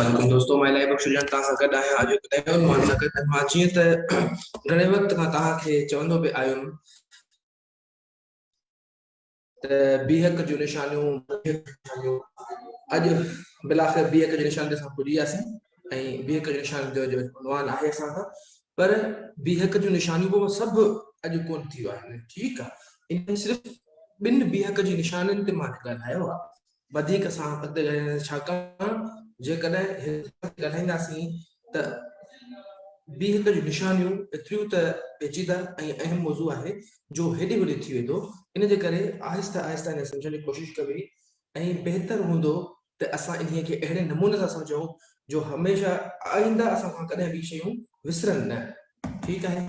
سلام دوستو مان الائي بخش جان توهان سان گڏ آهيان اڄ هڪ نئين عنوان سان گڏ مان جيئن ته گهڻي وقت کان توهان کي چوندو به آيم ته بيهڪ جون نشانيون اڄ بلاخر بيهڪ جي نشان تي اسان پڄي وياسين ۽ بيهڪ جي نشان جو جو عنوان آهي اسان کان پر بيهڪ جون نشانيون به سڀ اڄ ڪون ٿيون آهن ٺيڪ آهي ان صرف ٻن بيهڪ جي نشانن تي مان ڳالهايو آهي وڌيڪ سان اڳتي ڳالهائينداسين ڇاڪاڻ جيڪڏهن هڪ ڳالهائينداسين ته ٻي هڪ جون نشانيون ايتريون ته پيچيده ۽ اهم موضوع آهي جو هيڏي هوڏي ٿي ويندو ان جي ڪري آهستي آهستي انهي سمجهڻ جي ڪوشش ڪبي ۽ بهتر هوندو ته اسان انهي کي اهڙي نموني سان سمجهون جو هميشه آئنده اسان کان ڪڏهن به شيون وسرن نه ٺيڪ آهي.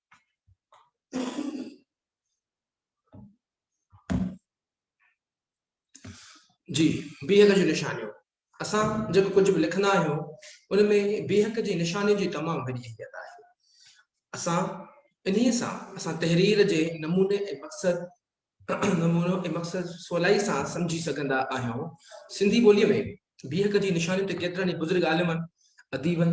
جي بيهڪ جون نشانيون اسان جيڪو ڪجهه به لکندا آهيون ان ۾ بيهڪ جي نشاني جي تمام وڏي اهميت آهي اسان انهي سان اسان تحرير جي نموني ۽ مقصد نمونو ۽ مقصد سولائي سان سمجهي سگهندا آهيون. سنڌي ٻوليء ۾ بيهڪ جي نشانيون تي ڪيترن ئي بزرگ عالمن، اديبن،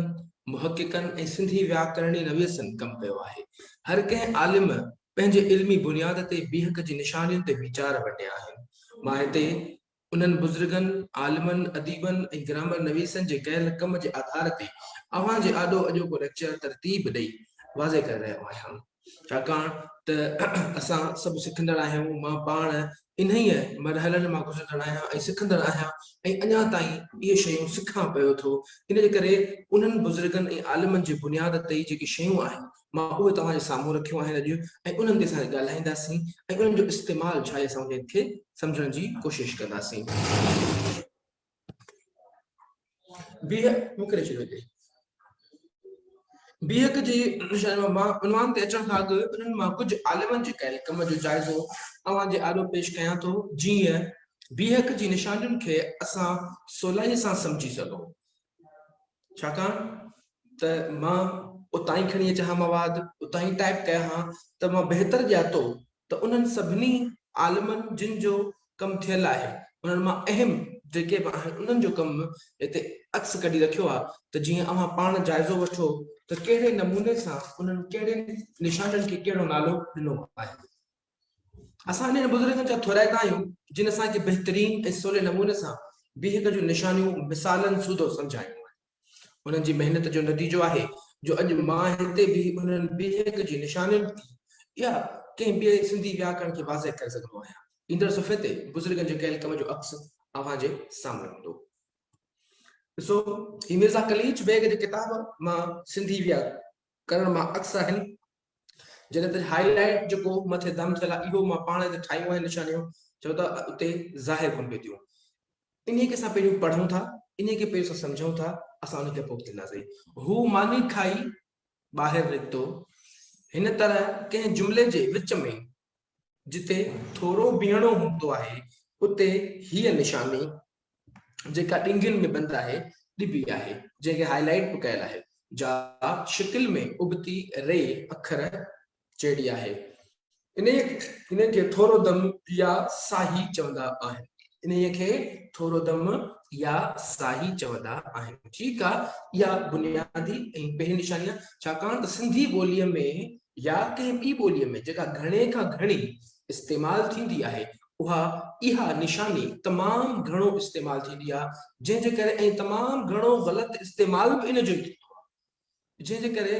محققن ۽ سنڌي وياڪرڻي نويسن ڪم ڪيو آهي. هر ڪنهن عالم پنهنجي علمي بنياد تي بيهڪ جي نشانين تي ويچار ونڊيا آهن. مان هتي انهن بزرگن، عالمن، اديبن ۽ گرامر نويسن جي ڪيل ڪم جي آڌار تي اوهان جي آڏو اڄوڪو ليڪچر ترتيب ڏئي واضح ڪري رهيو آهيان. ڇاڪاڻ ته اسان سڀ سکندڙ آهيون، مان پاڻ انهيء مرحلن مان گذرندڙ آهيان ۽ سکندڙ آهيان ۽ اڃا تائين اهي شيون سکان پيو ٿو، ان جي ڪري انهن بزرگن ۽ عالمن جي بنياد تي جيڪي شيون آهن، مان اهي توهان جي سامهون رکيون آهن اڄ ۽ انهن تي اسان ڳالهائينداسين ۽ انهن جو استعمال ڇا اسان انهن کي سمجهڻ جي ڪوشش ڪنداسين. بيهڪ مڪري ڇڏيو اتي بيهڪ جي مان عنوان تي اچڻ کان اڳ انهن مان ڪجهه عالمن جي ڪيل ڪم جو جائزو اوهان جي آڏو پيش ڪيان ٿو جيئن بيهڪ جي نشانين کي اسان سولائي سان سمجهي سگهون ڇاڪاڻ ته مان اتان ئي کڻي اچان ها مواد، اتان ئي ٽائيپ ڪيان ها ته مان بهتر ڄاتو ته انهن سڀني عالمن جن جو ڪم ٿيل آهي انهن مان اهم جيڪي به آهن انهن جو ڪم هتي عڪس ڪڍي رکيو آهي ته جيئن اوهان پاڻ جائزو وٺو ته ڪهڙي نموني سان انهن ڪهڙين نشانين کي ڪهڙو نالو ڏنو آهي. اسان انهن بزرگن جا ٿورائتا آهيون جن اسان کي بهترين ۽ سولي نموني سان بيهڪ جون نشانيون مثالن سوڌو سمجهايون آهن. انهن جي محنت جو نتيجو آهي جو اڄ مان هتي بيهي انهن بيهڪ جي نشانين يا ڪنهن ٻئي سنڌي وياڪرڻ کي واضح ڪري سگهندو آهيان. ايندڙ صفحي تي بزرگن جي ڪيل ڪم جو عڪس اوهان جي سامهون هوندو. ڏسو هي مرزا قليچ بيگ جي ڪتاب مان سنڌي وياڪرڻ ڪرڻ مان عڪس آهن جن تي هاء لائيٽ جيڪو مٿي دم ٿيل آهي اهو مان پاڻ هتي ٺاهيون آهن نشانيون جو ته اتي ظاهر ڪن پئي ٿيون انهي کي اسان پهريون پڙهون ٿا انهي کي پهريون اسان سمجهون ٿا اسان انهي کي پوء ڪنداسين هو ماني کائي ٻاهر نڪتو هن طرح ڪنهن جملي جي وچ ۾ جتي ٿورو بيهڻو هوندو آهي اتي هيء نشاني جيڪا ڏنگين ۾ بند آهي، ڏبي آهي، جنهن کي هاء لائيٽ به ڪيل آهي، جا شڪل ۾ ابتي ري اکر جهڙي آهي. انهيء کي ٿورو دم يا ساهي چوندا آهن. انهيء کي ٿورو دم يا ساهي چوندا آهن. ٺيڪ آ، اها بنيادي ۽ پهرين نشاني آ، ڇاڪاڻ ته سنڌي ٻوليء ۾ يا ڪنهن ٻي ٻوليء ۾ جيڪا گهڻي کان گهڻي استعمال ٿيندي آهي، اها اها نشاني تمام گهڻو استعمال ٿيندي آهي جنهن جي ڪري ۽ تمام گهڻو غلط استعمال به ان جو ئي ٿيندو آهي جنهن جي ڪري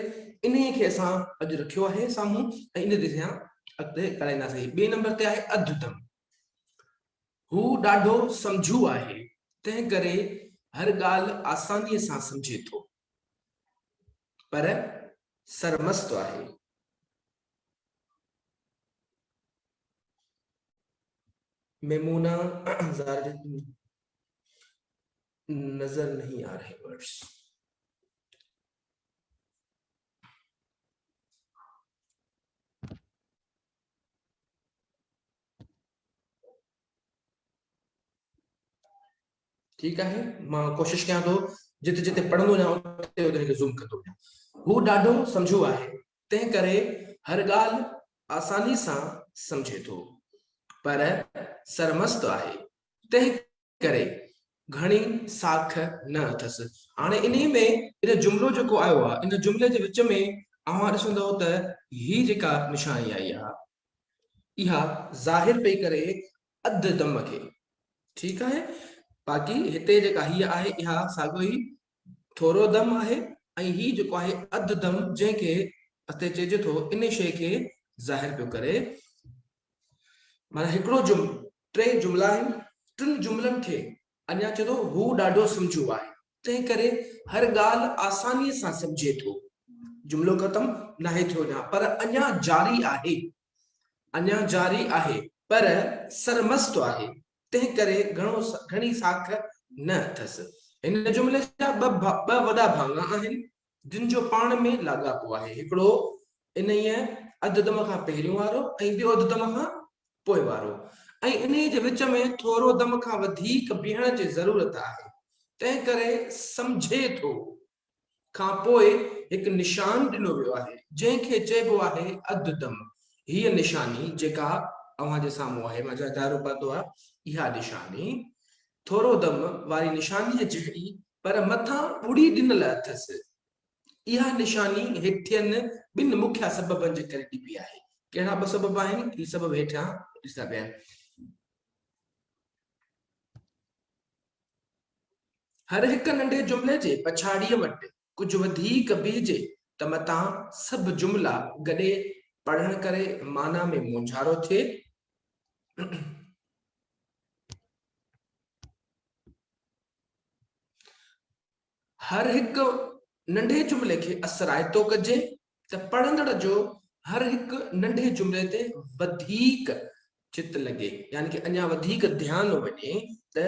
انهي کي اسان اڄ رکيو آهي سامهون ۽ ان تي اسان اڳتي ڳالهائينداسين ٻئي نمبر تي آهي اڌ دم هو ڏاڍو سمجهو آهي تنهن ڪري هر ڳالهه آساني سان سمجهي ٿو پر سرمست آهي ميمونه زارج نظر نهي آ رهي ورڊز ٺيڪ آهي مان ڪوشش ڪيان ٿو جتي جتي پڙهندو وڃان اتي اتي زوم ڪندو وڃان هو ڏاڍو سمجهو آهي تنهن ڪري هر ڳالهه آساني سان سمجهي ٿو پر سرمست آهي تنهن ڪري گهڻي ساک نه اٿس. هاڻي انهي ۾ هن جملو جيڪو آيو آهي ان جملي جي وچ ۾ اوهان ڏسندؤ ته هي جيڪا نشاني آئي آهي اها ظاهر پئي ڪري اڌ دم کي ٺيڪ آهي باقي هتي جيڪا هيء آهي اها ساڳيو ئي ٿورو دم آهي ۽ هي جيڪو آهي اڌ دم جنهن کي اتي چئجي ٿو ان شيء کي ظاهر پيو ڪري معنيٰ هڪڙو جملو ٽي جملا آهن ٽن جملن کي اڃا چئي ٿو هو ڏاڍو سمجهو آهي تنهن ڪري هر ڳالهه آساني سان سمجهي ٿو جملو ختم ناهي ٿيو اڃا پر اڃا جاري آهي اڃا جاري آهي پر سرمست آهي تنهن ڪري گهڻو گهڻي ساک نه اٿس. هن جملي جا ٻه ٻه وڏا ڀاڱا آهن، جن جو پاڻ ۾ لاڳاپو آهي، هڪڙو انهيء اڌدم کان پهريون وارو ۽ ٻيو اڌدم کان پوء وارو، ۽ انهيء جي وچ ۾ ٿورو دم کان وڌيڪ بيهڻ جي ضرورت آهي، تنهن ڪري سمجهي ٿو، کان پوء هڪ نشان ڏنو ويو آهي، جنهن کي چئبو آهي اڌ دم. هيء نشاني جيڪا اوهان جي سامهون آهي، مان جا دائرو پاتو آهي، اها نشاني ٿورو دم واري نشانيء جهڙي پر مٿان ٻڙي ڏنل اٿس. اها نشاني هيٺين ٻن مکيه سببن جي ڪري ڏبي آهي. ڪهڙا ٻه سبب آهن؟ هي سبب هيٺيان ڏسندا پيا آهن. هر هڪ ننڍي جملي جي پڇاڙيء وٽ ڪجهه وڌيڪ بيهجي ته متان سڀ جملا گڏي پڙهڻ ڪري معنيٰ ۾ مونجهارو ٿئي. هر هڪ ننڍي جملي کي اثرائتو ڪجي ته پڙهندڙ جو هر هڪ ننڍي جملي تي وڌيڪ چت لڳي يعني ڪي اڃا وڌيڪ ڌيان وڃي ته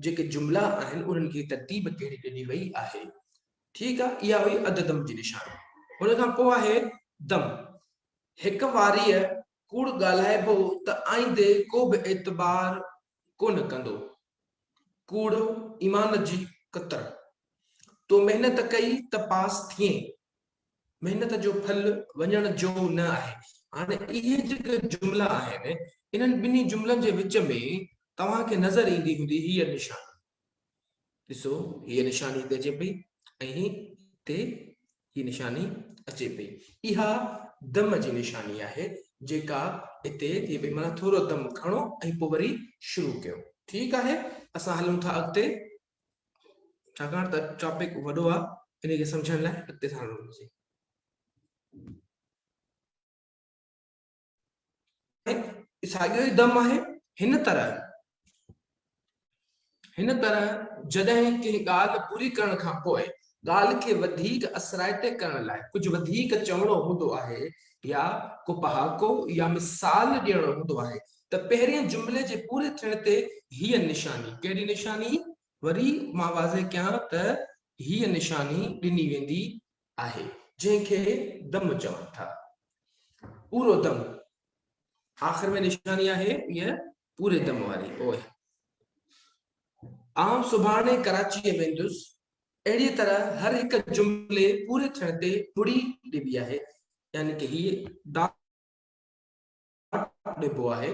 جيڪي جملا آهن انهن کي ترتيب ڪهڙي ڏني وئي آهي ٺيڪ آ اها هئي اڌ دم جي نشاني ان کان پوء آهي دم هڪ واريء ڪوڙ ڳالهائبو ته آئيندي ڪو به اعتبار ڪونه ڪندو ڪوڙ ايمان جي ڪتر تو محنت ڪئي ته پاس ٿئين محنت جو ڦل وڃڻ جو نه آهي. هاڻي اهي جيڪي جملا آهن، انهن ٻنهي جملن جي وچ ۾ توهان کي نظر ايندي هوندي هيء نشاني. ڏسو هيء نشاني هتي اچي پئي ۽ هتي هيء نشاني اچي پئي. اها دم جي نشاني آهي، جيڪا هتي ٿئي پئي. معنيٰ ٿورو دم کڻو ۽ پوء وري شروع ڪيو. ٺيڪ آهي، اسان هلون ٿا اڳتي. ڇاڪاڻ ته ٽاپڪ وڏو آ انهي کي سمجهڻ لاء اڳتي ساڙڻو پوندو. ساڳيو ئي دم آهي هن طرح هن طرح جڏهن ڪنهن ڳالهه پوري ڪرڻ کان پوء ڳالهه کي وڌيڪ اثرائتي ڪرڻ لاء ڪجهه وڌيڪ چوڻو هوندو آهي يا ڪو پهاڪو يا مثال ڏيڻو هوندو آهي ته پهرين جملي جي پوري ٿيڻ تي هيء نشاني، ڪهڙي نشاني؟ وري مان واضح ڪيان ته هيء نشاني ڏني ويندي آهي، جنهن کي دم چون ٿا. پورو دم آخر ۾ نشاني آهي هيء پوري دم واري، اوء. آئون سڀاڻي ڪراچيء ويندس، اهڙيء طرح هر هڪ جملي پوري ٿيڻ تي ٻڙي ڏبي آهي، يعني ته هيء دال. ڏبو آهي،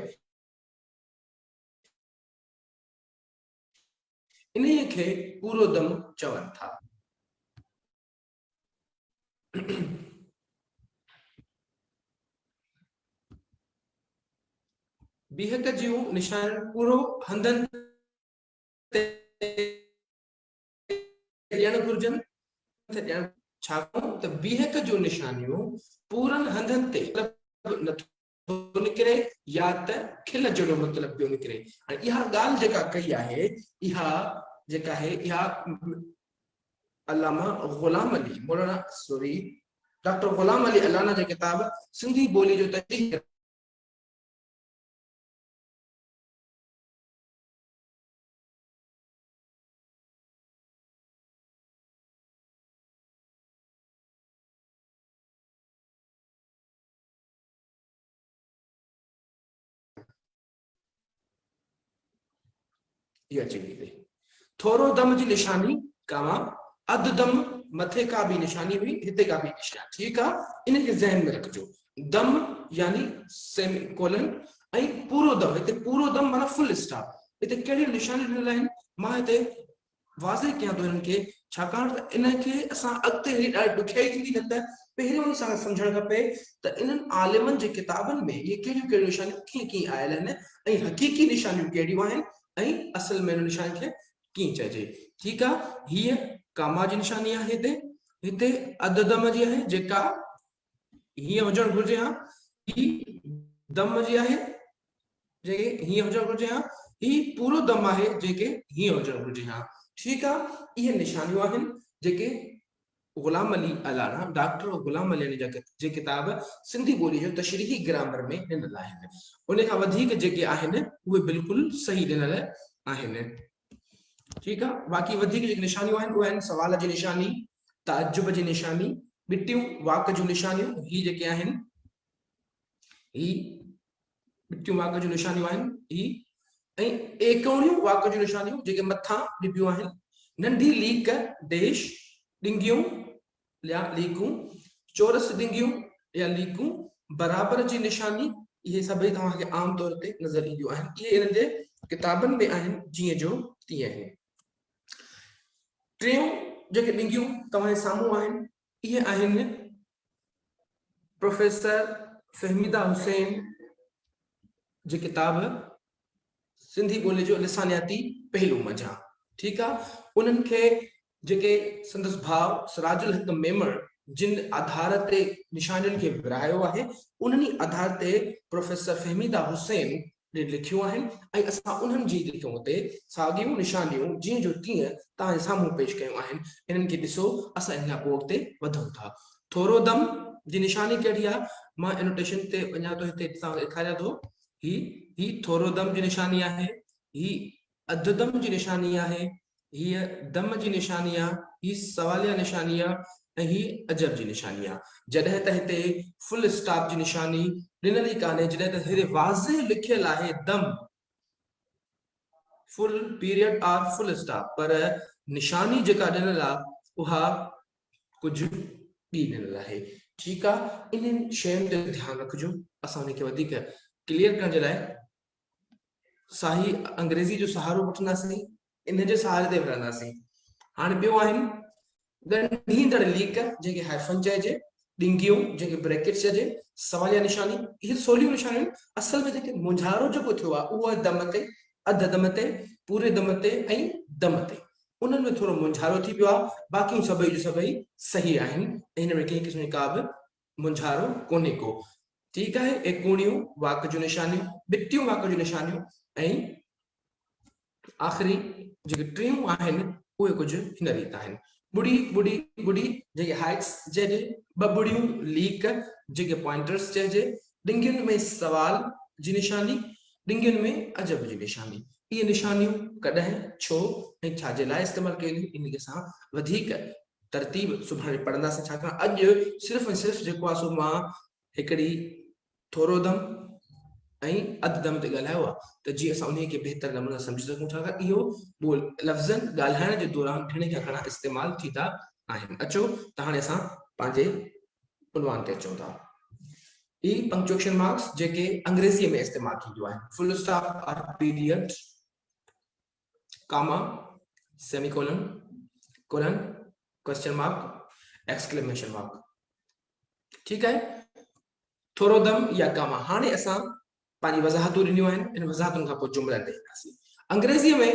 انهيء کي پورو دم چون ٿا. بيهڪ جون نشانيون پورو هنڌن تي ڏيڻ گهرجن ته ڏيڻ ڇاڪاڻ ته بيهڪ جو نشانيو پورن هنڌن تي مطلب نٿو نڪري يا ته کل جهڙو مطلب پيو نڪري ۽ اها ڳالهه جيڪا ڪئي آهي اها جيڪا آهي اها علامه غلام علي مولانا سوري ڊاڪٽر غلام علي الانا جي ڪتاب سنڌي ٻولي جو تجزيو اها چئي ڏني ٿورو دم جي نشاني ڪاوان اڌ دم مٿي ڪا به نشاني هئي هتي ڪا به نشاني ٺيڪ آهي ان کي ذهن ۾ رکجو دم يعني سيمي ڪولن ۽ پورو دم هتي پورو دم معنيٰ فل اسٽاپ هتي ڪهڙيون نشانيون ڏنل آهن مان هتي واضح ڪيان ٿو انهن کي ڇاڪاڻ ته ان کي اسان اڳتي هلي ڏاڍي ڏکيائي ٿيندي نه ته پهريون ئي سان سمجهڻ کپي ته انهن عالمن جي ڪتابن ۾ اهي ڪهڙيون ڪهڙيون نشانيون ڪيئن ڪيئن آيل آهن ۽ حقيقي نشانيون ڪهڙيون آهن ۽ اصل ۾ انهن نشانين کي ڪيئن چئجي ٺيڪ آهي هيء ڪاما جي نشاني آهي هتي هتي اڌ دم جي آهي جيڪا هيئن هجڻ گهرجي ها هي دم جي آهي جيڪي هيئن هجڻ گهرجي ها هي پورو دم آهي جيڪي هيئن هجڻ گهرجي ها ٺيڪ آهي اهي نشانيون آهن جيڪي غلام علي الانا ڊاڪٽر غلام علي جا جي ڪتاب سنڌي ٻولي جو تشريحي گرامر ۾ ڏنل آهن ان کان وڌيڪ جيڪي آهن اهي بلڪل صحيح ڏنل آهن ٺيڪ آ باقي وڌيڪ جيڪي نشانيون آهن اهي آهن سوال جي نشاني تعجب جي نشاني ٻٽيون واڪ جون نشانيون هي جيڪي آهن هي ٻٽيون واڪ جون نشانيون آهن هي ۽ ايڪوڻيون واڪ جون نشانيون جيڪي مٿان ڏبيون آهن ننڍي ليڪ ڊيش ڏنگيون يا ليڪون چورس ڏنگيون يا ليڪون برابر جي نشاني اهي سڀئي توهان کي عام طور تي نظر اينديون آهن اهي انهن جي ڪتابن ۾ آهن جيئن جو تيئن آهن ٽيون جيڪي ڏنگيون توهان جي سامهون آهن اهي آهن پروفيسر فهميده حسين جي ڪتاب سنڌي ٻولي جو لسانياتي پهلو منجهان ٺيڪ آهي انهن کي جيڪي سندس ڀاء سراج الحق ميمڻ جن آڌار تي نشانين کي ورهايو آهي، انهن ئي آڌار تي پروفيسر فهميده حسين ڏي لکيون آهن ۽ اسان انهن جي لکيون اتي ساڳيون نشانيون جيئن جو تيئن توهان سامهون پيش ڪيون آهن. انهن کي ڏسو اسان انهيء بورڊ تي وڌون ٿا. ٿورو دم جي نشاني ڪهڙي آهي؟ مان انوٽيشن تي وڃان ٿو هتي توهان کي ڏيکاريان ٿو. هي هي ٿورو دم جي نشاني آهي. هي اڌ دم جي نشاني آهي، هيء دم جي نشاني آ، هي سواليه نشاني آ ۽ هي عجب جي نشاني آ. جڏهن ته هتي فل اسٽاپ جي نشاني ڏنل ئي ڪانهي، جڏهن ته هيڏي واضح لکيل آهي دم، full period or full stop, پر نشاني جيڪا ڏنل آ، اها ڪجهه ٻي ڏنل آهي. ٺيڪ آ، انهن شين تي ڌيان رکجو، اسان انهي کي وڌيڪ ڪليئر ڪرڻ جي لاء صحيح انگريزي جو سهارو وٺنداسين ان جي سهاري تي وڙهنداسين هاڻي ٻيو آهن ڳنڍيندڙ ليڪ جنهن کي هائفن چئجي ڏنگيون جنهن کي بريڪٽ چئجي سواليا نشاني اهي سوليون نشانيون اصل ۾ جيڪي مونجهارو جيڪو ٿيو آهي اهو آهي دم تي اڌ دم تي پوري دم تي ۽ دم تي انهن ۾ ٿورو مونجهارو ٿي پيو آهي باقيون سڀئي جو سڀئي صحيح آهن هن ۾ ڪنهن قسم جي ڪا به مونجهارو ڪونهي ڪو. ٺيڪ آهي اهي ڪوڻيون واڪ جون نشانيون، ٻٽيون واڪ جون نشانيون ۽ آخري جيڪي ٽيون آهن اهي ڪجهه هن ريت آهن. ٻڙي ٻڙي ٻڙي جنهنکي هائيڪس چئجي، ٻه ٻڙيون ليڪ جنهنکي پوائنٽرس چئجي، ڏنگين ۾ سوال جي نشاني، ڏنگين ۾ عجب جي نشاني. اهي نشانيون ڪڏهن، ڇو ۽ ڇا جي لاء استعمال ڪيون وينديون انهيء سان وڌيڪ ترتيب سڀاڻي پڙهنداسين ڇاڪاڻ اڄ صرف ۽ صرف جيڪو آهي سو مان هڪڙي ٿورو دم ۽ اڌ دم تي ڳالهايو آهي ته جيئن اسان انهي کي بهتر نموني سان سمجهي سگهون ڇاڪاڻ اهو ٻول لفظن ڳالهائڻ جي دوران گهڻي کان گهڻا استعمال ٿيندا آهن اچو ته هاڻي اسان پنهنجي عنوان تي اچون ٿا اي پنڪچوئيشن مارڪس جيڪي انگريزي ۾ استعمال ٿينديون آهن full stop or period comma, semicolon, colon, question mark, exclamation mark ٺيڪ آهي ٿورو دم يا ڪاما هاڻي اسان پنهنجي وضاحتون ڏنيون آهن ان وضاحتن کان پوء جملا تي اينداسين انگريزي ۾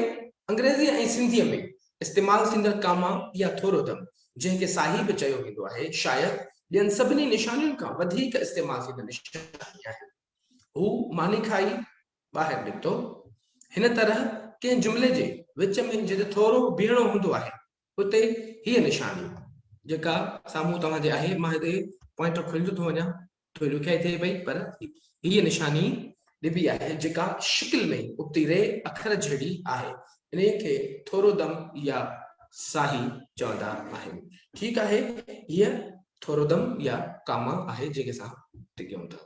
انگريزي ۽ سنڌي ۾ استعمال ٿيندڙ ڪاما يا ٿورو دم جنهن کي ساهي به چيو ويندو آهي شايد ٻين سڀني نشانين کان وڌيڪ استعمال ٿيندڙ نشاني آهي هو ماني کائي ٻاهر نڪتو. هن طرح ڪنهن جملي جي وچ ۾ جتي ٿورو بيهڻو هوندو آهي اتي هيء نشاني جيڪا سامهون توهان جي آهي مان هتي پوائنٽر کلندو ٿو وڃان ٿوري ڏکيائي ٿئي پئي پر هيء نشاني ڏبي آهي جيڪا شڪل ۾ ابتي ري اکر جهڙي آهي انهي کي ٿورو دم يا ساهي چوندا آهن ٺيڪ آهي هيء ٿورو دم يا ڪاما آهي جنهن کي اسان ٽڪيون ٿا.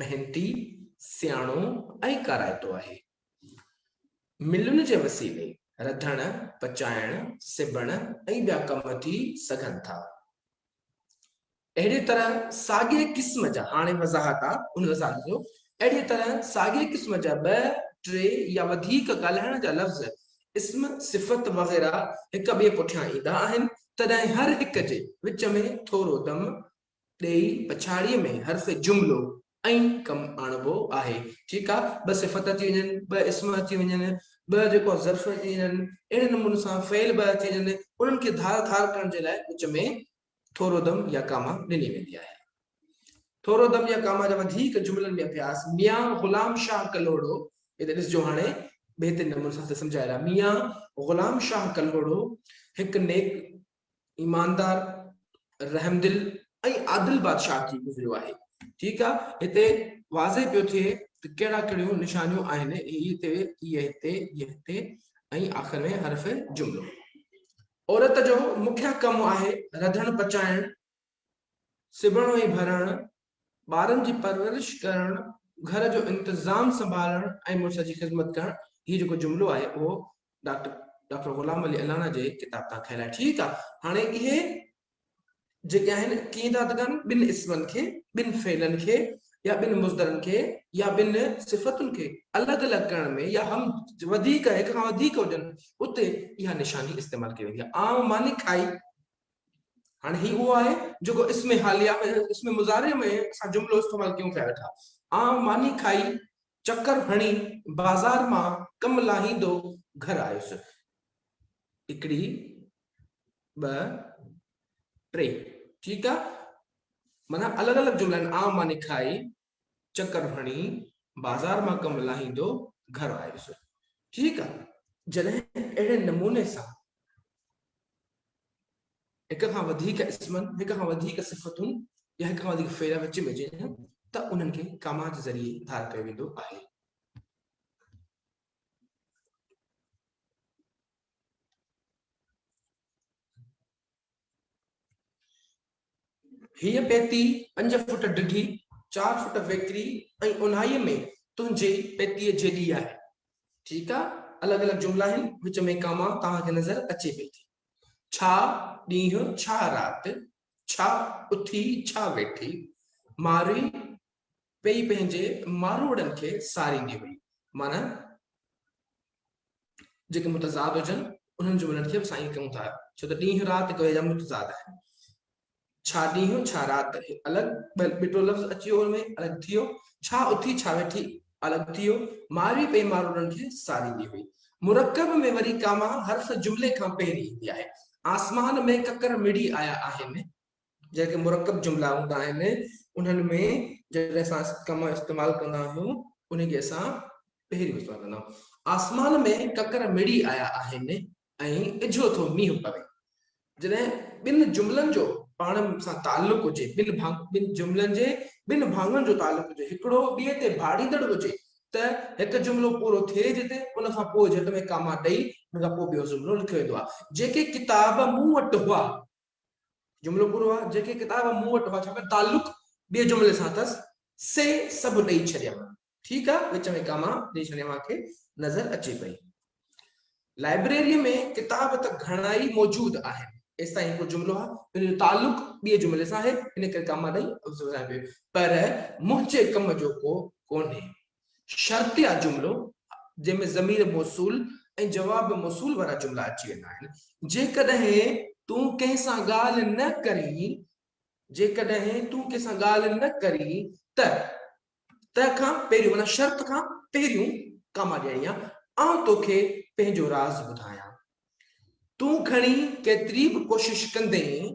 محنتي، سياڻو ۽ ڪارائتو آهي. ملن جي وسيلي رڌڻ، پچائڻ، سبڻ ۽ ٻيا ڪم ٿي سگهن ٿا. اهڙيء طرح ساڳئي قسم جا، هاڻي وضاحت آ ان وضاحت جو، اهڙيء طرح ساڳئي قسم جا ٻه، ٽي يا وڌيڪ ڳالهائڻ جا لفظ، اسم، صفت وغيره هڪ ٻئي پٺيان ايندا آهن، تڏهن هر هڪ جي وچ ۾ ٿورو دم ڏيئي پڇاڙيء ۾ حرف جملو ائين ڪم آڻبو آهي. ٺيڪ آ، ٻه صفت اچي وڃن، ٻه اسم اچي وڃن، ٻه جيڪو ظرف اچي وڃن، اهڙي نموني سان فعل ٻه اچي وڃن، انهن کي ڌار ڌار ڪرڻ جي لاء وچ ۾ ٿورو دم يا ڪاما ڏني ويندي آهي. ٿورو دم يا ڪاما جا وڌيڪ جملن ۾ اڀياس ميان غلام شاهه ڪلهوڙو هتي ڏسجو هاڻي بهترين نموني سان هتي سمجهايل آهي ميان غلام شاهه ڪلهوڙو هڪ نيڪ ايماندار رحمدل ۽ عادل بادشاهه ٿي گذريو آهي ٺيڪ آ هتي واضح پيو ٿئي ته ڪهڙا ڪهڙيون نشانيون آهن هتي هي هتي هي هتي ۽ آخر ۾ حرف جملو عورت جو مکيه ڪم آهي رڌڻ پچائڻ سبڻ ۽ ڀرڻ، ٻارن جي پرورش ڪرڻ، گهر جو انتظام سنڀالڻ ۽ مڙس جي خدمت ڪرڻ هي جيڪو جملو آهي اهو ڊاڪٽر ڊاڪٽر غلام علي الانا جي ڪتاب تان کنيل آهي ٺيڪ آهي هاڻي اهي جيڪي آهن ڪيئن ٿا ته ڪن ٻن اسمن کي ٻن فعلن کي يا ٻن مصدرن کي يا ٻن صفتن کي الڳ الڳ ڪرڻ ۾ يا هم وڌيڪ هڪ کان وڌيڪ هجن اتي اها نشاني استعمال ڪئي ويندي آهي عام ماني کائي هاڻي هي اهو آهي جيڪو اسم حاليه ۾ اسم مضارع ۾ اسان جملو استعمال ڪيون پيا ويٺا آئون ماني کائي چڪر هڻي بازار مان ڪم لاهيندو گهر آيس هڪڙي ٻه ٽي ٺيڪ آ معنيٰ الڳ الڳ جملا آئون ماني کائي چڪر هڻي بازار مان ڪم لاهيندو گهر آيس. ٺيڪ آ جڏهن اهڙي نموني سان هڪ کان وڌيڪ اسمن، هڪ کان وڌيڪ صفتن يا هڪ کان وڌيڪ فعل وچ ۾ اچين ٿا ته انهن کي ڪاما جي ذريعي ڌار ڪيو ويندو آهي. هيء پيتي پنج فوٽ ڊگهي، چار فوٽ ويڪري ۽ اونهائيء ۾ تنهنجي پيتيء جيڏي آهي. ٺيڪ آ، الڳ الڳ جملا آهن، وچ ۾ ڪاما توهان کي نظر اچي پئي ٿي. ڇا ڏينهن، ڇا رات، ڇا اٿي، ڇا ويٺي، مارئي، پئي پنهنجي ماروئڙن کي ساريندي هئي. معنيٰ جيڪي متضاد هجن، انهن جون ونڊ ٿيو سائين ڪيون ٿا، ڇو ته ڏينهن رات ڪوئي جا متضاد آهن. ڇا ڏينهن ڇا رات الڳ ٻٽو لفظ اچي ويو ان ۾ الڳ ٿيو، ڇا اٿي ڇا ويٺي الڳ ٿيو. ماروئي پئي ماروئڙن کي ساريندي هئي. مرڪب ۾ وري ڪاما حرف جملي کان پهرين ايندي آهي. آسمان ۾ ڪڪر مڙي آيا آهن. جيڪي مرڪب جملا هوندا آهن انهن ۾ جڏهن اسان ڪم استعمال ڪندا آهيون انهي کي اسان پهريون استعمال ڪندا آهيون آسمان ۾ ڪڪر مڙي آيا آهن ۽ اجهو ٿو مينهن پوي جڏهن ٻن جملن جو پاڻ سان تعلق هجي ٻن ٻن جملن جي ٻن ڀاڱن جو تعلق هجي هڪڙو ٻئي تي ڀاڙيندڙ هجي ته هڪ جملو پورو ٿئي جتي ان کان پوء جهٽ ۾ ڪاما ڏئي ان کان پوء ٻيو جملو لکيو ويندو آهي جيڪي ڪتاب مون وٽ هئا جملو پورو آ، جيڪي ڪتاب مون وٽ هئا ڇاڪاڻ تعلق ٻئي جملي سان اٿس، سي سڀ ڏئي ڇڏيم. ٺيڪ آ، وچ ۾ ڪاما ڏئي ڇڏيم اوهان کي نظر اچي پئي. لائبريري ۾ ڪتاب ته گهڻائي موجود آهن. ايستائين هڪڙو جملو آ، ان جو تعلق ٻئي جملي سان آهي، ان ڪري ڪاما ڏئي ٻڌايو ويو. پر منهنجي ڪم جو ڪو ڪونهي. شرطيه جملو، جنهن ۾ ضمير موصول ۽ جواب موصول وارا جملا اچي ويندا آهن، جيڪڏهن تون ڪنهن سان ڳالهه نه ڪرين، جيڪڏهن تون ڪنهن سان ڳالهه نه ڪرين ته، ته کان پهريون معنيٰ شرط کان پهريون ڪاما ڏيڻي آهي، آئون توکي پنهنجو راز ٻڌايان. تون گهڻي ڪيتري به ڪوشش ڪندين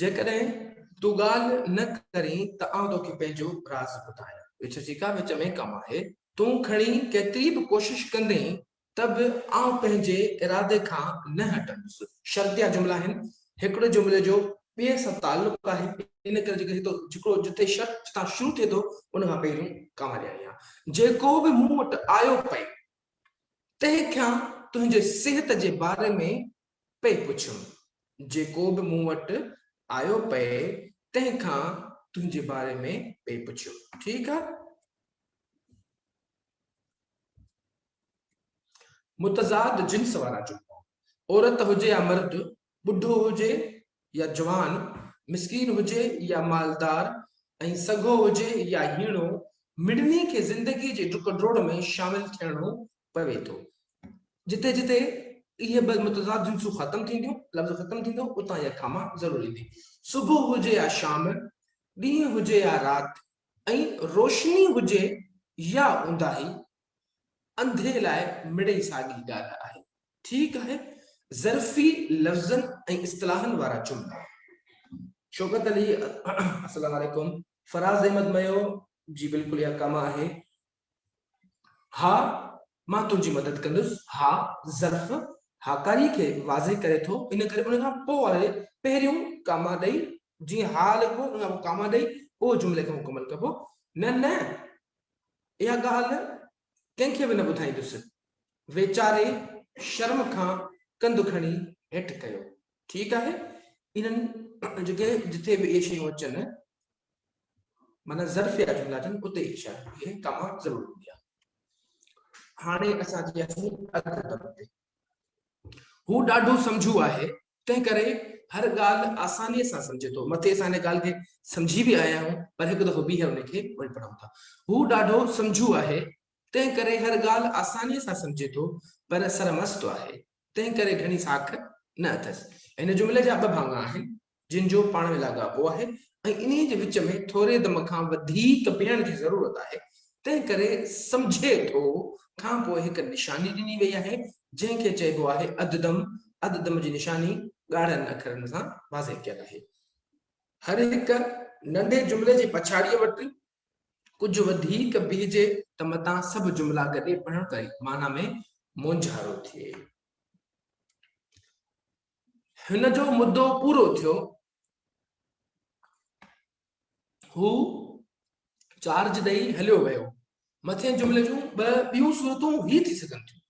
جيڪڏهن تون ڳالهه نه ڪرين ته آئون توکي پنهنجو راز ٻڌايان. وچ جي ڪا وچ ۾ ڪم آهي. تون کڻي ڪيتري به ڪوشش ڪندين ته به آئون پنهنجي ارادي کان نه هٽندس. شرطيا جملا آهن. هڪڙو جملي جو ٻئي سان تعلق آهي. ان ڪري جيڪو هتو جيڪڙو جتي شرط جتان شروع ٿئي ٿو ان کان پهريون ڪاما ڏيڻي آهي. جيڪو به مون وٽ آيو پئي تنهن کان تنهنجي صحت جي باري ۾ پئي پڇيم. جيڪو به مون وٽ آيو پئي تنهن کان تنهنجي باري ۾ پئي پڇيم. ٺيڪ آ. متضاد جنس وارا جملا، عورت هجي يا مرد، ٻڍو هجي يا جوان، مسڪين هجي يا مالدار ۽ سگهو هجي يا هيڻو، مڙني کي زندگيء جي ڊڪ ڊوڙ ۾ شامل ٿيڻو پوي ٿو. جتي جتي اهي ٻه متضاد جنسون ختم ٿينديون، لفظ ختم ٿيندو، اتان اها کاما ضرور ايندي. صبح هجي يا شام، ڏينهن هجي يا رات ۽ روشني هجي يا اونداهي، انڌي لاء مڙئي ساڳي ڳالهه آهي. ٺيڪ آهي، ظرفي لفظن ۽ اصطلاحن وارا جملا. شوڪت علي السلام عليڪم فراز احمد ميو جي بلڪل اها ڪم آهي ها مان تنهنجي مدد ڪندس ها ظرف هاڪاري کي واضح ڪري ٿو ان ڪري ان کان پوء واري پهريون ڪاما ڏئي جيئن ها لکبو ان کان پوء ڪاما ڏئي پوء جملي کي مڪمل ڪبو نه نه اها ڳالهه ڪنهن کي به نه ٻڌائيندس. ويچاري شرم کان ڪنڌ کڻي هيٺ ڪيو. ٺيڪ آهي انهن جي جتي به اهي شيون اچن معنيٰ ظرفيه جملا اچن اتي اهي شايد اهي ڪاما ضرور هوندي آهي. هاڻي اسان جي اسين اڌ ادب تي. هو ڏاڍو سمجهو آهي، تنهن ڪري هر ڳالهه آسانيء سان سمجهي ٿو. مٿي اسان هن ڳالهه کي سمجهي به آيا آهيون، پر هڪ دفعو ٻيهر ان کي وري پڙهون ٿا. هو ڏاڍو سمجهو آهي، تنهن ڪري هر ڳالهه آسانيء سان سمجهي ٿو، پر سرمست آهي، تنهن ڪري گهڻي ساک نه اٿس. هن جملي جا ٻه ڀاڱا آهن، جن جو پاڻ ۾ لاڳاپو آهي ۽ انهيء جي وچ ۾ ٿوري دم کان وڌيڪ ويهڻ جي ضرورت آهي، تنهن ڪري سمجهي ٿو کان پوء هڪ نشاني ڏني وئي آهي، جنهن کي چئبو آهي اڌ دم، اڌ دم جي نشاني ڳاڙهن اکرن سان واضح ڪيل آهي. هر هڪ ننڍي جملي جي پڇاڙيء وٽ ڪجهه وڌيڪ بيهجي ته متان سڀ جملا گڏي پڙهڻ ڪري معنيٰ ۾ مونجهارو ٿئي. هن جو مدو پورو ٿيو. هو چارج ڏئي هليو ويو. مٿين جملي جون ٻه ٻيون صورتون هي ٿي سگهن ٿيون.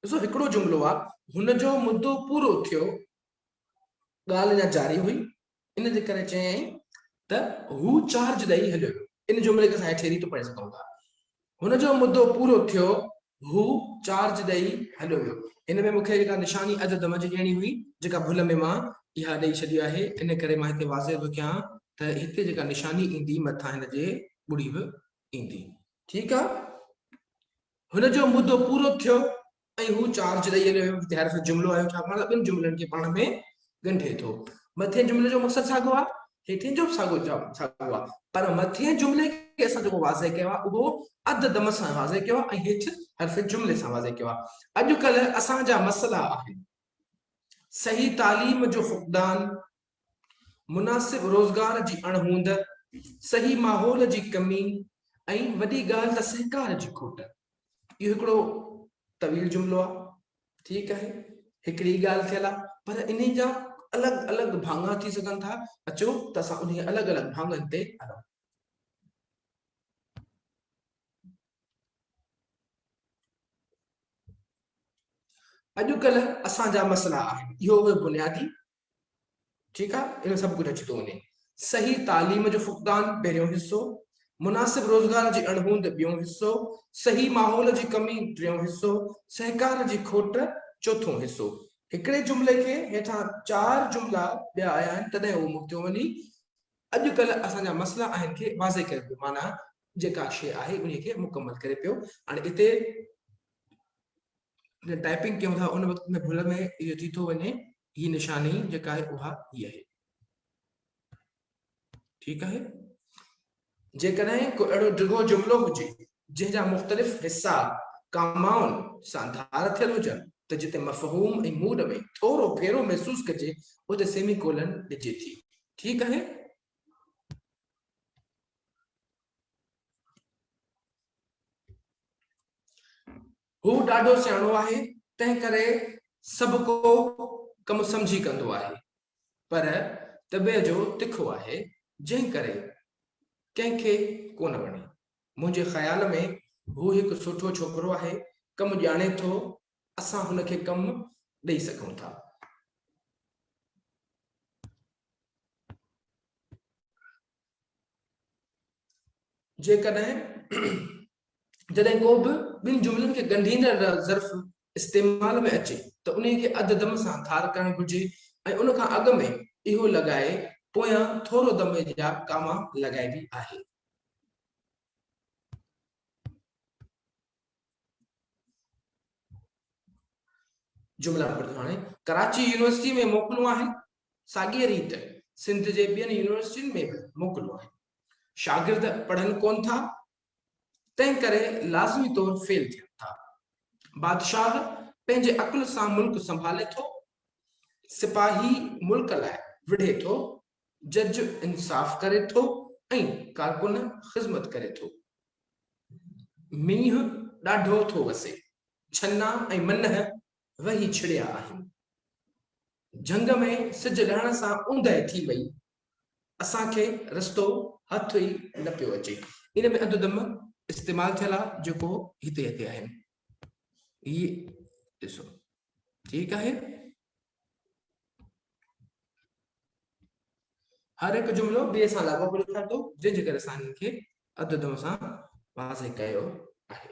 ڏسو هڪڙو جملو آ هن جو مدو پورو ٿيو ڳالهه اڃا جاري هئي ان جي ڪري چيائين ته هو چارج ڏئي هليو ويو. ان جملي کي اسان هيٺين ريت پڙهي سگهون ٿا، هن جو مدو پورو ٿيو، هو چارج ڏئي هليو ويو. هن ۾ مون کي جيڪا نشاني عدد منجهه ڏيڻي هئي، جيڪا ڀل ۾ مان اها ڏئي ڇڏي آهي، ان ڪري مان هتي واضح به ڪيان ته هتي جيڪا نشاني ايندي، مٿان هن جي ٻڙي به ايندي. ٺيڪ آهي. هن جو مدو پورو ٿيو، ۽ هو چارج ڏئي هليو ويو، جتي هر هڪ جملو آيو ڇا پاڻ ٻن جملن کي پاڻ ۾ ڳنڍي ٿو. مٿئين جملي جو مقصد ساڳيو آهي، هيٺئين جو به ساڳيو ساڳيو آهي، پر مٿئين جملي کي اسان جيڪو واضح ڪيو آهي اهو اڌ دم سان واضح ڪيو آهي ۽ هيٺ حرف جملي سان واضح ڪيو آهي. اڄڪلهه اسان جا مسئلا آهن صحيح تعليم جو فقدان، مناسب روزگار جي اڻ هوند، صحيح ماحول جي ڪمي ۽ وڏي ڳالهه ته سهڪار جي کوٽ. اهو هڪڙو طويل جملو آهي. ٺيڪ آهي هڪڙي ئي ڳالهه ٿيل آهي پر انهي جا الڳ الڳ ڀاڱا ٿي سگهن ٿا، اچو ته اسان انهي الڳ الڳ ڀاڱن تي هلون. اڄڪلهه اسان جا مسئلا آهن اهو اهي بنيادي ٺيڪ آ ان ۾ سڀ ڪجهه اچي ٿو وڃي. صحيح تعليم جو فقدان پهريون حصو، مناسب روزگار جي اڻهوند ٻيون حصو، صحيح ماحول جي ڪمي ٽيون حصو، سهڪار جي کوٽ چوٿون حصو. هڪڙي جملي کي هيٺان چار جملا ٻيا آيا آهن تڏهن اهو مڪتيو وڃي. اڄ ڪلهه اسان جا مسئلا آهن کي واضح ڪري پيو معنيٰ جيڪا شيء آهي انهي کي مڪمل ڪري پيو هاڻي اتي. جڏهن ٽائپنگ ڪيون ٿا ان وقت ۾ ڀل ۾ اهو ٿي ٿو وڃي هي نشاني جيڪا آهي اها هي آهي ٺيڪ آهي جيڪڏهن ڪو اهڙو ڊگهو جملو هجي جنهن جا مختلف حصا ڪامائن سان ڌار ٿيل هجن ته جتي مفهوم ۽ موڊ ۾ ٿورو ڦيرو محسوس ڪجي اتي سيمي ڪولن ڏجي ٿي ٺيڪ آهي هو ڏاڍو سياڻو آهي، تنهنڪري سڀڪو ڪم سمجهي ڪندو آهي، پر طبع جو تکو آهي، جنهن ڪري ڪنهن کي ڪونه وڻي. منهنجي خيال ۾ هو هڪ سٺو ڇوڪرو آهي، ڪم ڄاڻي ٿو، اسان هن کي ڪم ڏئي سگهون ٿا. جيڪڏهن جڏهن ڪو به ٻن جملن کي ڳنڍيندڙ ظرف استعمال ۾ اچي ته انهي کي اڌ دم سان ڌار ڪرڻ گهرجي ۽ ان کان اڳ ۾ اهو لڳائي پويان ٿورو دم جا ڪاما لڳائبي آهي. جملا نمبر ٿيو هاڻي ڪراچي يونيورسٽي ۾ موڪلون آهن ساڳيء ريت سنڌ جي ٻين يونيورسٽين ۾ به موڪلون آهن. شاگرد پڙهن ڪونه ٿا، تنهن ڪري لازمي طور فيل ٿين ٿا. بادشاهه پنهنجي عقل سان ملڪ سنڀالي ٿو، سپاهي ملڪ لاء وڙهي ٿو، جج انصاف ڪري ٿو ۽ ڪارڪن خذمت ڪري ٿو. مينهن ڏاڍو ٿو وسي، ڇنا ۽ منهه وهي ڇڙيا آهن. جهنگ ۾ سج لهڻ سان اوندهه ٿي وئي. اسان کي رستو هٿ ئي نه پيو اچي. ان ۾ اڌ دم استعمال ٿيل آ جيڪو هتي هتي آهن. هي ڏسو ٺيڪ آهي. هر هڪ جملو ٻئي سان لاڳاپو لکان ٿو جنهن جي ڪري اسان ان کي اڌ دم سان واضح ڪيو آهي.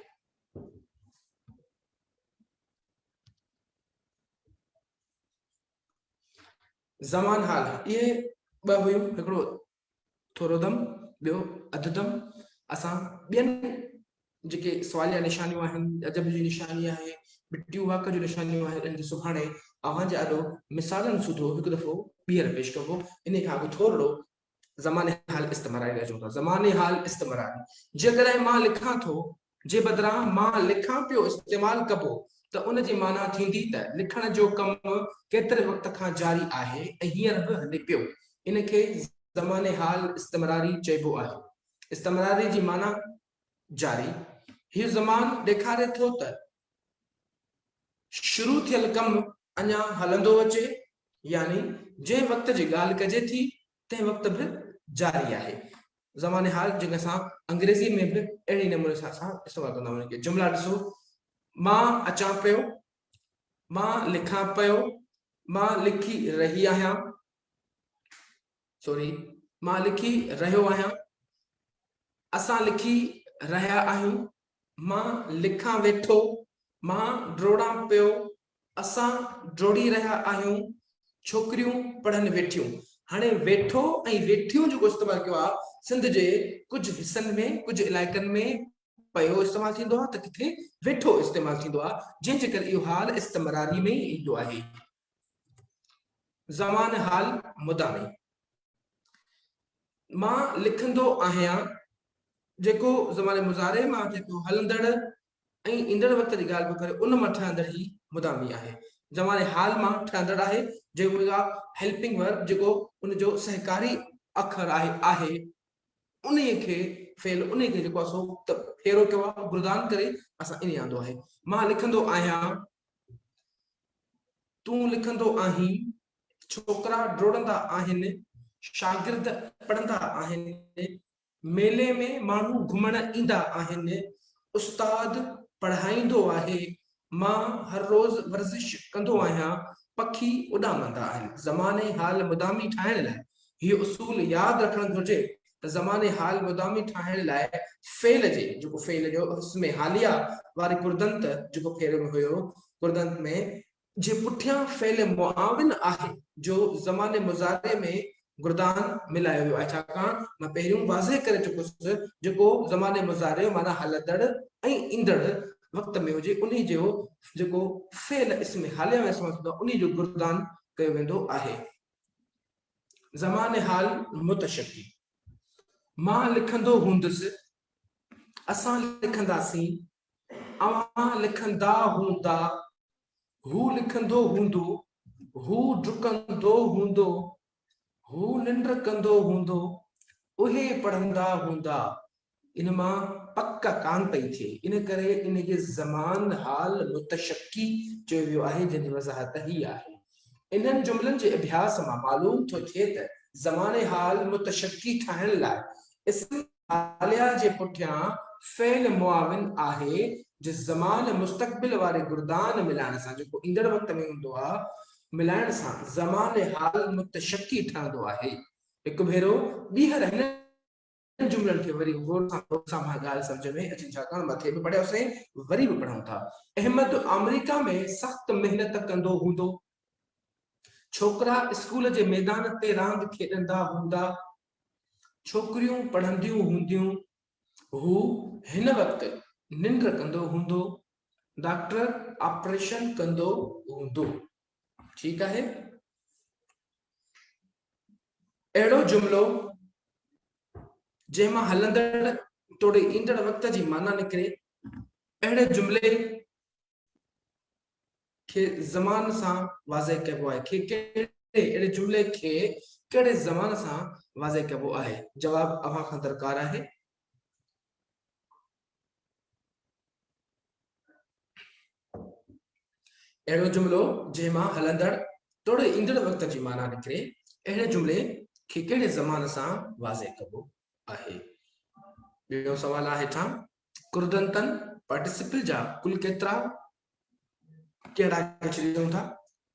زمان حال اهي ٻه هيون هڪڙو ٿورو دم ٻيو اڌ دم اسان ٻين جيڪي سواليا نشانيون آهن ادب جي نشاني آهي مٽيون واڪ جون نشانيون آهن ان کي سڀاڻي اوهان جي آڏو مثالن سوڌو هڪ دفعو ٻيهر پيش ڪبو ان کان اڳ ٿورڙو زماني حال استمراري لهجو اٿا زماني حال استمراري جيڪڏهن مان لکان ٿو جي بدران مان لکان پيو استعمال ڪبو ته ان جي معنيٰ ٿيندي ته لکڻ جو ڪم ڪيتري وقت کان جاري آهي ۽ هينئر به هلي پيو ان کي زماني حال استمراري چئبو آهي استمراري جي معنيٰ جاري هيء زمان ڏيکاري ٿو ته شروع ٿيل ڪم اڃا هلندو اچي يعني جنهن وقت جي ڳالهه ڪجي ٿي تنهن وقت به جاري آهي. زمان حال جنهن کي اسان انگريزي ۾ به اهڙي نموني سان اسان استعمال ڪندا آهيون جي جملا ڏسو مان اچان پيو، مان لکان پيو، مان لکي رهي آهيان، سوري مان لکي رهيو آهيان، اسان لکي رهيا آهيون، مان لکان ويٺو، مان ڊوڙان پيو، اسان ڊوڙي رهيا آهيون، ڇوڪريون پڙهن ويٺيون. هاڻي ويٺو ۽ ويٺيون جيڪو استعمال ڪيو آهي، سنڌ جي ڪجهه حصن ۾ ڪجهه علائقن ۾ پيو استعمال ٿيندو آهي ته ڪٿي ويٺو استعمال ٿيندو آهي، جنهن جي ڪري اهو حال استمراري ۾ ئي ايندو آهي. زمان حال مدامي مان لکندو آهيان جيڪو زمان مضارع مان اچي ٿو هلندڙ ۽ ايندڙ وقت جي ڳالهه پيو ڪري ان مان ٺهندڙ هي مدامي آهي زمان حال مان ٺهندڙ آهي جيڪو هيلپنگ ورب جيڪو ان جو سهڪاري اکر آهي آهي انهي کي فعل انهي کي جيڪو اسو ته ڦيرو ڪيو آهي گردان ڪري اسان انهي آندو آهي مان لکندو آهيان تون لکندو آهين، ڇوڪرا ڊوڙندا آهن، شاگرد پڙهندا آهن، ميلي ۾ ماڻهو گهمڻ ايندا آهن، استاد پڙهائيندو آهي، مان هر روز ورزش ڪندو آهيان، پکي اڏامندا آهن. زماني حال مدامي ٺاهڻ لاء هيء اصول ياد رکڻ گهرجي ته زمان حال مدامي ٺاهڻ لاء فعل جي، جيڪو فعل جو اسم حاليه واري ڪردنت، جيڪو پهرين ۾ هيو، ڪردنت ۾، جي پٺيان فعل معاون آهي، جو زمان مضارع ۾ گردان ملايو ويو آهي، ڇاڪاڻ مان پهريون واضح ڪري چڪو هوس، جيڪو زمان مضارع معنيٰ هلندڙ ۽ ايندڙ وقت ۾ هجي، انهي جو جيڪو فعل اسم حاليه ۾ استعمال ٿيندو آهي، انهي جو گردان ڪيو ويندو آهي. زمان حال متشڪي مان لکندو هوندس اسان لکنداسين اوهان لکندا هوندا هو لکندو هوندو هو ڊڪندو هوندو هو ننڊ ڪندو هوندو اهي پڙهندا هوندا ان مان پڪ ڪانه پئي ٿئي، ان ڪري ان کي زمان حال متشڪي چيو ويو آهي، جنهن جي وضاحت هيء آهي. انهن جملن جي اڀياس مان معلوم ٿو ٿئي ته زمان حال متشڪي ٺاهڻ لاء اسم حاليه جي پٺيان فعل معاون آهي، جو زمان مستقبل واري گردان ملائڻ سان، جيڪو ايندڙ وقت ۾ هوندو آهي، ملائڻ سان زمان حال متشڪي ٺهندو آهي. هڪ ڀيرو ٻيهر هن. انهن جملن کي وري غور سان پڙهو، اسان اها ڳالهه سمجهه ۾ اچي ڇاڪاڻ مٿي به پڙهياسين وري به پڙهون ٿا. احمد آمريڪا ۾ سخت محنت ڪندو هوندو. ڇوڪرا اسڪول جي ميدان تي راند کيڏندا هوندا. ڇوڪريون پڙهنديون هونديون. هو هن وقت ننڊ ڪندو هوندو. ڊاڪٽر آپريشن ڪندو هوندو. ٺيڪ آهي اهڙو جملو جنهن مان هلندڙ توڙي ايندڙ وقت جي معنيٰ نڪري اهڙي جملي کي زمان سان واضح ڪبو آهي کي اهڙي جملي کي ڪهڙي زمان سان واضح ڪبو آهي جواب اوهان کان درڪار آهي اهڙو جملو جنهن مان هلندڙ توڙي ايندڙ وقت جي معنيٰ نڪري، اهڙي جملي کي ڪهڙي زمان سان واضح ڪبو آهي؟ ٻيو سوال آ هيٺان ڪردنتن پارٽيسپل جا ڪل ڪيترا ڪهڙا ڪچري ڏيون ٿا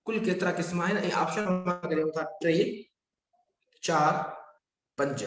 ڪل ڪيترا قسم آهن ۽ آپشن مان ڪريون ٿا ٽي چار پنج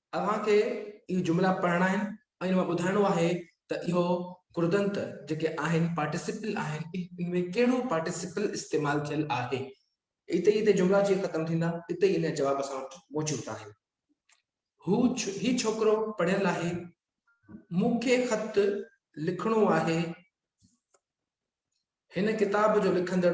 اوهان کي اهي جملا پڙهڻا آهن ۽ ان مان ٻڌائڻو آهي ته اهو ڪردنت جيڪي آهن پارٽيسپل آهن ان ۾ ڪهڙو پارٽيسپل استعمال ٿيل آهي. اتي ئي اتي جملا جي ختم ٿيندا اتي ئي ان جا جواب اسان وٽ موجود آهن. هو هي ڇوڪرو پڙهيل آهي. مون کي خط لکڻو آهي. هن ڪتاب جو لکندڙ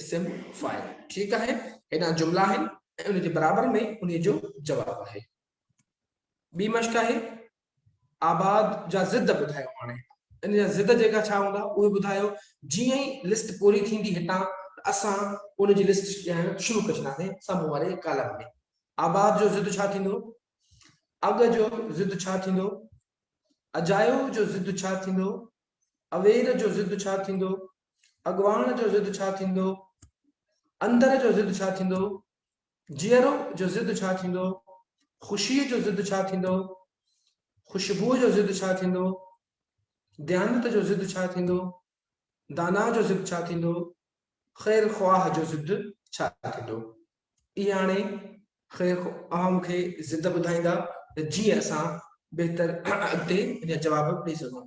اسم فاعل ٺيڪ آهي هيڏانهن جملا آهن ۽ ان جي برابر ۾ ان جو جواب آهي ٻي مشق آهي آباد جا ضد ٻڌايو هاڻي ان جا ضد جيڪا ڇا هوندا اهي ٻڌايو جيئن ئي لسٽ پوري ٿيندي هتان اسان ان جي لسٽ ڏيڻ شروع ڪري ڇڏينداسين سامهون واري ڪالم ۾ آباد جو ضد ڇا ٿيندو اڳ جو ضد ڇا ٿيندو اجايو جو ضد ڇا ٿيندو اوير جو ضد ڇا ٿيندو اڳواڻ جو ضد ڇا ٿيندو؟ اندر جو ضد ڇا ٿيندو؟ جيئرو جو ضد ڇا ٿيندو؟ خوشيء جو ضد ڇا ٿيندو؟ خوشبوء جو ضد ڇا ٿيندو؟ ديانت جو ضد ڇا ٿيندو؟ دانا جو ضد ڇا ٿيندو؟ خير خواهه جو ضد ڇا ٿيندو؟ اي هاڻي خير اوهان مون کي ضد ٻڌائيندا ته جيئن اسان بهتر اڳتي ان جا جواب ڏئي سگهون.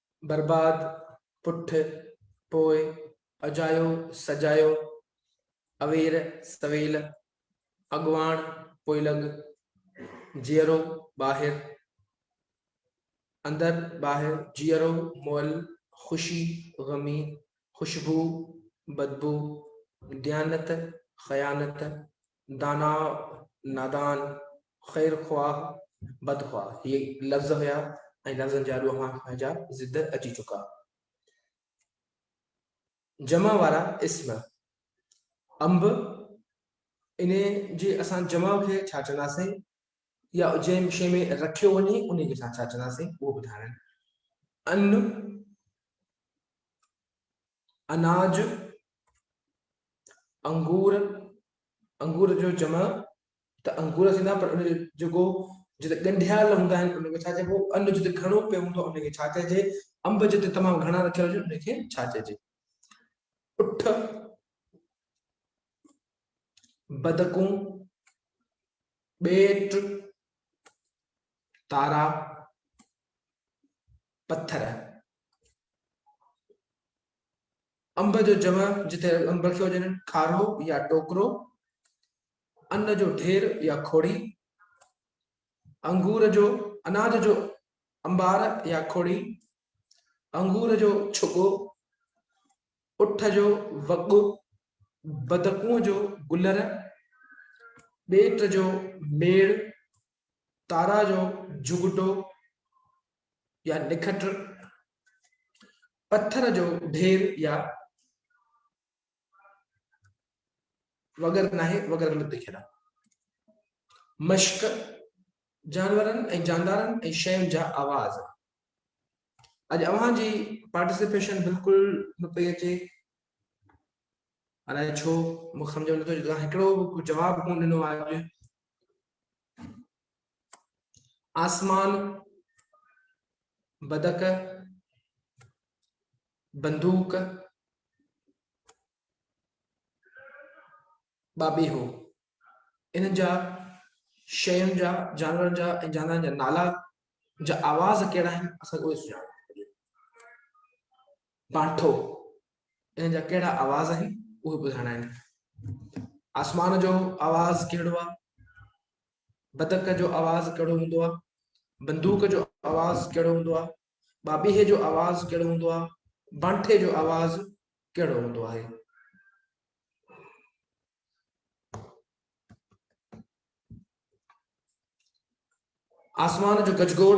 برباد پٺ پوء اجايو سجايو، اوير سويل اڳواڻ پوئلڳ، جيئرو ٻاهر اندر ٻاهر، جيئرو مئل خوشي غمي، خوشبو بدبو، ديانت خيانت، دانا، نادان، خير خواهه، بد خواهه هي لفظ هيا ۽ لفظن جا ڏوها هن جا ضد اچي چڪا. جمع وارا اسم انب انهي جي اسان جمع کي ڇا چونداسين يا جنهن شيء ۾ رکيو وڃي انهي کي اسان ڇا چونداسين اهو ٻڌائڻ ان اناج، انگور، انگور جو جمع ته انگور ٿيندا پر ان جو جيڪو جتي ڳنڍيال هوندا آهن ان کي ڇا چئبو ان جتي گهڻو پيو هوندو ان کي ڇا چئجي انب جتي تمام گهڻا رکيل هجن ان کي ڇا چئجي اٺ بدڪون ٻيٽ تارا پٿر انب جو جمع جتي انب لکيو هجن کارو يا ٽوڪرو ان جو ڍير يا کوڙي انگور جو اناج جو انبار يا کوڙي انگور جو ڇڳو اٺ جو وڳو بدڪوء جو گلر ٻيٽ جو ميڙ تارا جو جهڳٽو يا نکٽ، پٿر جو ڍير يا وغيره ناهي وغيره نه ٿي کيڏان. مشڪ، جانورن ۽ جاندارن ۽ شين جا آواز. اڄ اوهان جي پارٽيسپيشن بلڪل نه پئي اچي، الائي ڇو مون کي سمجهه ۾ نه ٿو اچي، توهان هڪڙو به جواب ڪونه ڏنو آهي اڄ. آسمان، بدڪ، بندوق، بابيهو انهن جا شين جا جانورن جا ۽ جانورن جا نالا جا آواز ڪهڙا آهن اسان کي اهي سڃاڻڻ بانٺو، ان جا ڪهڙا آواز آهن، اهي ٻڌائڻا آهن. آسمان جو آواز ڪهڙو آهي، بدڪ جو آواز ڪهڙو هوندو آهي، بندوق جو آواز ڪهڙو هوندو آهي، ٻاٻيهي جو آواز ڪهڙو هوندو آهي، بانٺي جو آواز ڪهڙو هوندو آهي. آسمان جو گجگوڙ